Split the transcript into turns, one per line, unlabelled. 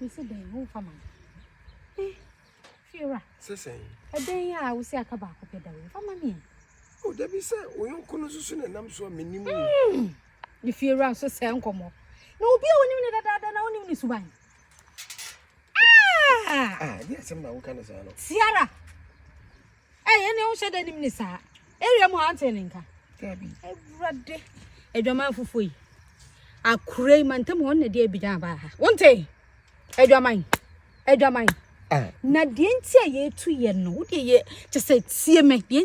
Mese dɛn wo fa ma no. Eh, fiewura. Sɛ sɛn? Ɛdɛn
yɛ a
wosi aka baako pɛ da wo fa ma me. O da bi sɛ
wo yɔnko no susu na nam so a menim wo. Hmm. Ne
fiewura nso sɛ nkɔmmɔ. Na obi a wonim ne dadaada na wonim ne suban. Ah! Ah,
ne asɛm na woka no saa no. Siara.
Ɛ yɛn deɛ wohyɛ dɛ nim ne saa. Area mu ante ne nka.
Awurade.
Adwaman fufuo yi. Akure yi mantam hɔ na deɛ abidan abaa ha. Wonte. Adwaman. Adwaman. Ah. Na deɛ nti a yɛtu yɛ no. Wodeɛ yɛ kyɛ sɛ tie me. Deɛ